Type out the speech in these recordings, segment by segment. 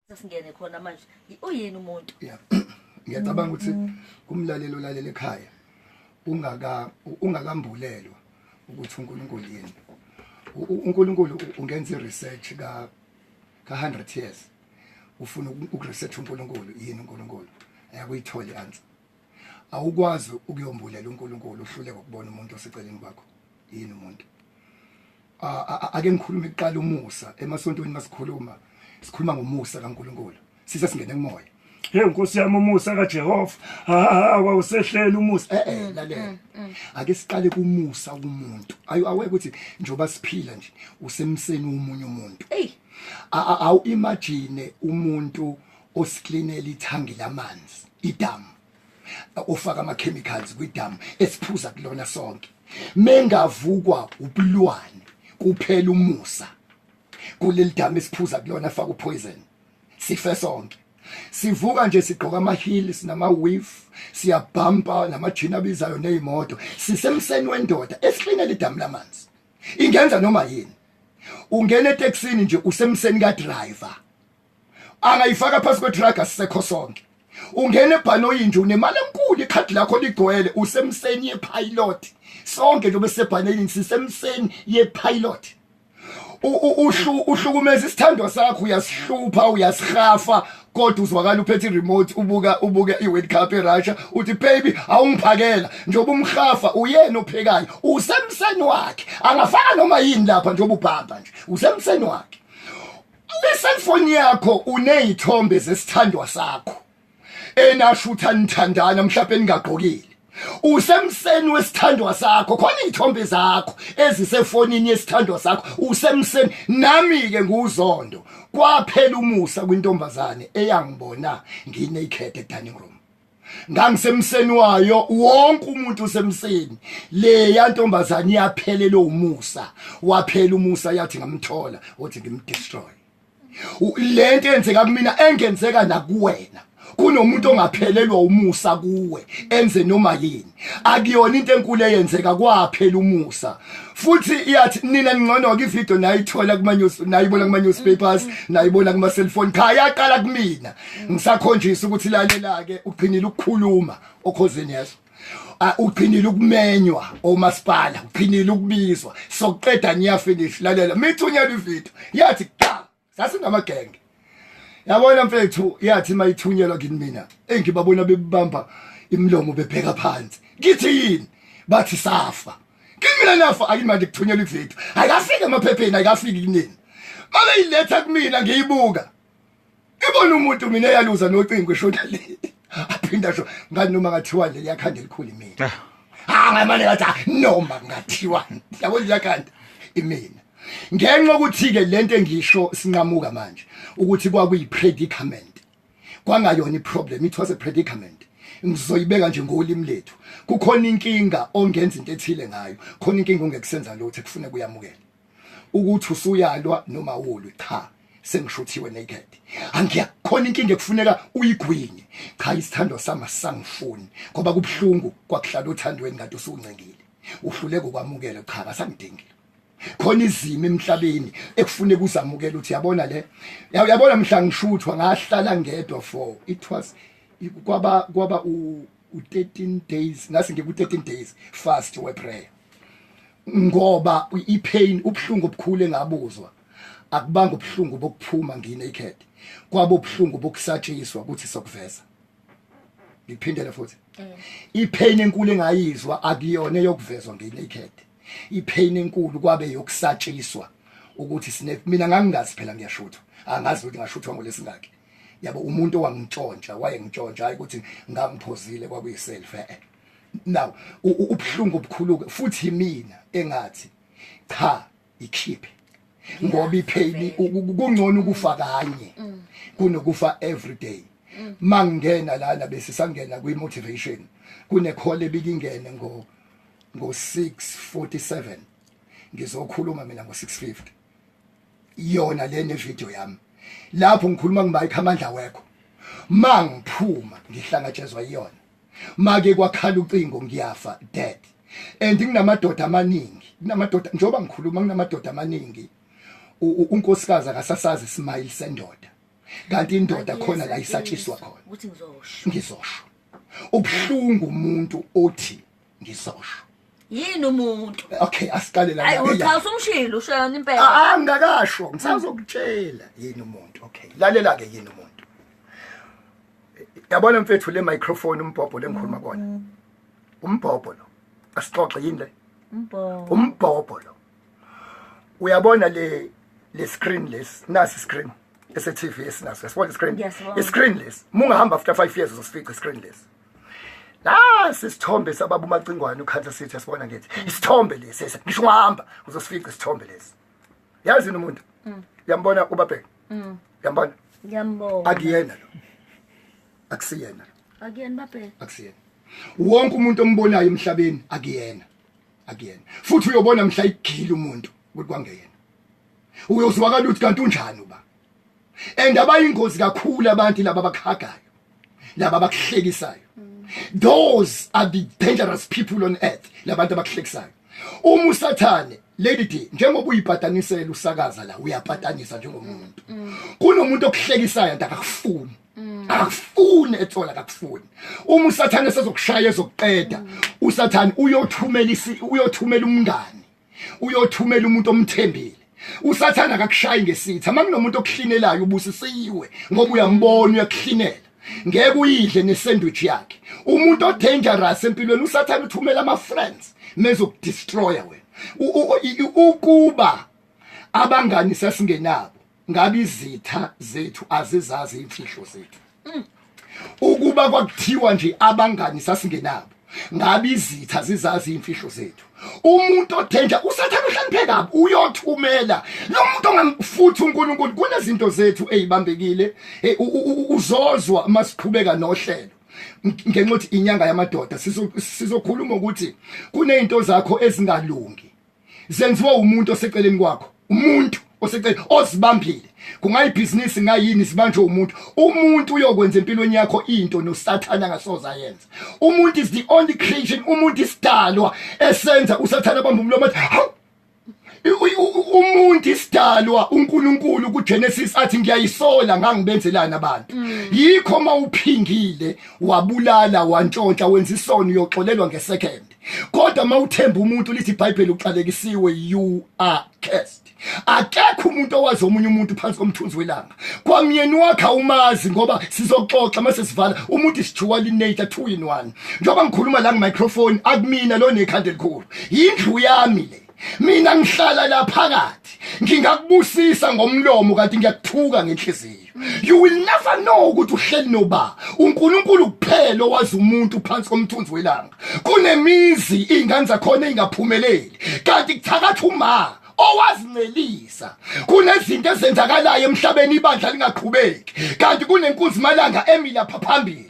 sesingene khona manje uyini umuntu yeah ngiyacabanga ukuthi kumlalelo lalela ekhaya ungaka ungakambulelwa ukuthi uNkulunkulu yini uNkulunkulu ungenza research ka ka 100 years ufuna ukuresearch uNkulunkulu yini uNkulunkulu ayakuyithola answer awukwazi ukuyombulela uNkulunkulu uhluleke ukubona umuntu oseceleni kwakho yini umuntu ake ngikhulume kuqala umusa emasontweni masikhuluma sikhuluma ngomusa kaNkulunkulu sise singene kumoya hey nkosi yami umusa kaJehova awusehleli umusa eh eh lalela mm, mm. ake siqale kumusa kumuntu ayu aweke ukuthi njoba siphila nje usemseni umunye umuntu hey awu imagine umuntu usiklinela ithangi lamanzi idamu ufaka ama-chemicals kwidamu esiphuza kulona sonke mengavukwa ubulwane kuphela umusa kuleli damu esiphuza kulona faka upoison sife sonke sivuka nje sigqoka ama-heels nama-wif siyabhampa namajini abizayo neyimoto sisemseni wendoda esiklinela idamu lamanzi ingenza noma yini ungena eteksini nje usemseni kadriver angayifaka phansi kwedrag asisekho sonke ungena ebhanoyi nje unemali enkulu ikhadi lakho ligcwele usemseni yepilot sonke nje besebhanelini sisemseni yepilot uhlukumeza isithandwa sakho uyasihlupha uyasihafa kodwa uzwakala uphethe iremote ubuka ubuke iWorld Cup eRussia uthi baby awungiphakela njengoba umhafa uyena ophekayo usemseni wakhe angafaka noma yini lapha njengoba ubhamba nje usemseni wakhe le cellphone yakho unezithombe zesithandwa sakho enashutha nithandana mhlawumbe ningagqokile usemseni wesithandwa sakho khona izithombe zakho ezisefonini yesithandwa sakho usemseni nami ke nguzondo kwaphela umusa kwintombazane eyangibona nginaked e dining room ngangisemseni wayo wonke umuntu usemseni leya ntombazane iyaphelele umusa waphela umusa yathi ngamthola uthi ngimdestroy lento enzeka kumina engenzeka nakuwena kunomuntu ongaphelelwa umusa kuwe enze noma yini akuyona into enkulu eyenzeka kwaphela umusa futhi iyathi nina ningcono ke ivideo nayithola kuma news nayibona kuma newspapers nayibona kuma cellphone cha yaqala kumina ngisakhonjisa ukuthi lalela ke uqhinile ukukhuluma okhozeni yeso uqhinile ukumenywa omasipala uqhinile ukubizwa sokuqeda ngiya finish lalela mithunyela ivideo yathi cha sasingamagenge yabona mfethu yathi mayithunyelwa kini mina engibabona bebamba imlomo bebheka phansi ngithi yini bathi safa kimina nafa akini manje kuthunyelwa ivideo ayikafiki emaphepheni ayikafiki kunini mabeyiletha kumina ngiyibuka ibona umuntu mina eyaluza nocingo eshona le aphinda sho ngani noma ngathiwa nje liyakhanda elikhulu imina ah. ah ngamane ngathi ah, noma ngathiwa yabo liyakhanda imina ngenxa ukuthi-ke le nto engisho sinqamuka manje ukuthi kwakuyi-predicament kwangayona i-problem it was a predicament ngizoyibeka nje ngolimi lethu kukhona inkinga ongenza into ethile ngayo khona inkinga ongekusenza lutho ekufuneka uyamukele ukuthi usuyalwa noma wolwe cha sengishuthiwe naked angiyakhona inkinga ekufuneka uyigwinye cha isithando sami asangifuni ngoba kubuhlungu kwakuhlala othandweni kanti usuncengile uhluleke ukwamukela cha kasangidingile khona izimo emhlabeni ekufune kuzamukela ukuthi yabona le yabona mhla ngishuthwa ngahlala ngedwa for it was kwaba kwaba u13 days ngase ngiku 13 days fast we prayer ngoba ipain ubuhlungu obukhulu engabuzwa akubanga ubuhlungu bokuphuma nginaked kwabo ubuhlungu bokusatshiswa ukuthi sokuveza ngiphindele futhi mm. ipain enkulu engayizwa akuyona yokuvezwa ngenaked ipain enkulu kwabe yokusatshiswa ukuthi sine mina ngangingazi phela ngiyashutha angazi ukuthi ngashuthwa ngolesingaki yabo umuntu owangitshontsha wayengitshontsha hayi ukuthi ngangiphozile kwakuyiself eh, eh. now ubuhlungu obukhulu futhi mina engathi cha ikhiphe ngoba ipheli kungcono ukufa kanye mm. kunokufa every day mm. mangena lana bese sangena kwi motivation kune call ebikingene ngo ngo 647 ngizokhuluma mina ngo 650 yona le ne video yami lapho ngikhuluma ngibayikho amandla wekho mangiphuma ngihlangatshezwa iyona make kwakhala ucingo ngiyafa dad and nginamadoda amaningi nginamadoda njengoba ngikhuluma nginamadoda amaningi unkosikazi akasasazi smile sendoda kanti indoda khona la isatshiswa khona ngizosho ubhlungu umuntu othi ngizosho yini umuntu okay asiqale la hayi uthi usumshilo usho yona impela ah, ah ngakasho ngisazokutshela yini umuntu okay lalela ke yini umuntu yabona mfethu le microphone umbhobho lengikhuluma kona mm-hmm. umbhobho lo asixoxe yini le umbhobho umbhobho lo uyabona le le screen less nasi screen ese TV esinaso yasibona screen i screen less mungahamba after 5 years uzosifica screen less nasi isithombe sababa umacingwane ukhansa sithi asibona ngithi isithombe lesi ngisho ungahamba uzosifica isithombe lesi yazi yini umuntu mm. yambona ubabheka mm. yambona ngiyambona akuyena lo akusiyena akuyena babheka akusiyena wonke umuntu ombonayo emhlabeni akuyena akuyena futhi uyobona mhla igila umuntu ukuthi kwangeyena uyozwakala ukuthi kanti unjani uba and abayingozi kakhulu abantu laba abakhagayo laba abakuhlekisayo those are the dangerous people on earth labantu abakuhlekisayo uma usathane lady d njengoba uyibhatanisela usakaza la uyabhatanisa njengomuntu kunomuntu okuhlekisayo and akakufuni akufuni ethola akakufuni uma usathane sezokushaya ezokuqeda usathane uyothumela uyothumela umngani uyothumela umuntu omthembile usathana akakushayi ngesitha uma kunomuntu okuhlinelayo ubusisiwe ngoba uyambona uyakuhlinela ngeke uyidle nesandwich yakhe umuntu odangerous empilweni usathana uthumela ama friends mezokudestroya wena ukuba abangani sasingenabo ngabe izitha zethu azizazi imfihlo zethu mm. ukuba kwakuthiwa nje abangani sasingenabo ngabe izitha zizazi imfihlo zethu umuntu othenja usathana uhloniphe kabi uyothumela lo muntu ongamfuthi uNkulunkulu kunezinto zethu ezibambekile eh, uzozwa uma siqhubeka nohlelo ngenxa ukuthi inyanga yamadoda sizokhuluma ukuthi kunezinto zakho ezingalungi zenziwe umuntu oseceleni kwakho umuntu osecela osibambile kungayibhizinisi ngayini sibanjwe umuntu umuntu uyokwenza empilweni yakho into nosathane angasoza yenza umuntu is the only creation umuntu isidalwa esenza usathane abamba umlomo umuntu isidalwa uNkulunkulu kuGenesis athi ngiyayisola ngangibenzelani abantu mm. yikho mawuphingile wabulala wantshontsha wenza isono uyoxolelwa ngesecond kodwa uma uthemba umuntu lithi ibhayibheli uxalekisiwe you are cursed akekho umuntu owazi omunye umuntu phansi komthunzi welanga kwamyeni wakhe awumazi ngoba sizoxoxa uma sesivala umuntu isijuwali nature two in one njengoba ngikhuluma la ngemicrophone akumina lo nekhanda elikhulu yindlu yami le mina ngihlala la phakathi ngingakubusisa ngomlomo kanti ngiyakuthuka ngenhliziyo you will never know ukuthi uhleli noba uNkulunkulu kuphela owazi umuntu phansi komthunzi welanga kunemizi ingane zakhona ingaphumeleli kanti kuthakatha uma owazincelisa kunezinto ezenzakalayo emhlabeni ibandla lingaqhubeki kanti kunenkunzi malanga emilapha phambili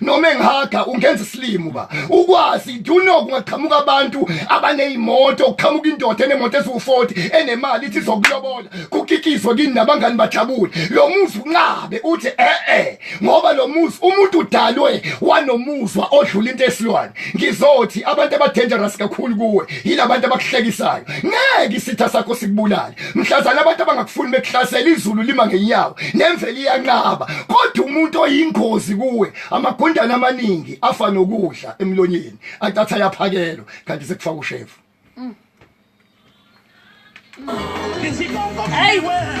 noma engihaga ungenza isilimo ba ukwazi do you know kungaqhamuka abantu abanezimoto kuqhamuka indoda enemoto eziwu40 enemali ithi zokulobola kukikizwe kini nabangani bajabule lo muzi unqabe uthi eh eh ngoba lo muzi umuntu udalwe wanomuzwa odlula into esilwane ngizothi abantu abadangerous kakhulu kuwe yilabantu abakuhlekisayo ngeke isitha sakho sikubulale mhlazana abantu abangakufuni bekuhlasela izulu lima ngenyawo nemvelo iyanqaba kodwa umuntu oyingozi kuwe amagundane amaningi afa nokudla emlonyeni atatha yaphakelo kanti sekufaka ushefu mm. mm.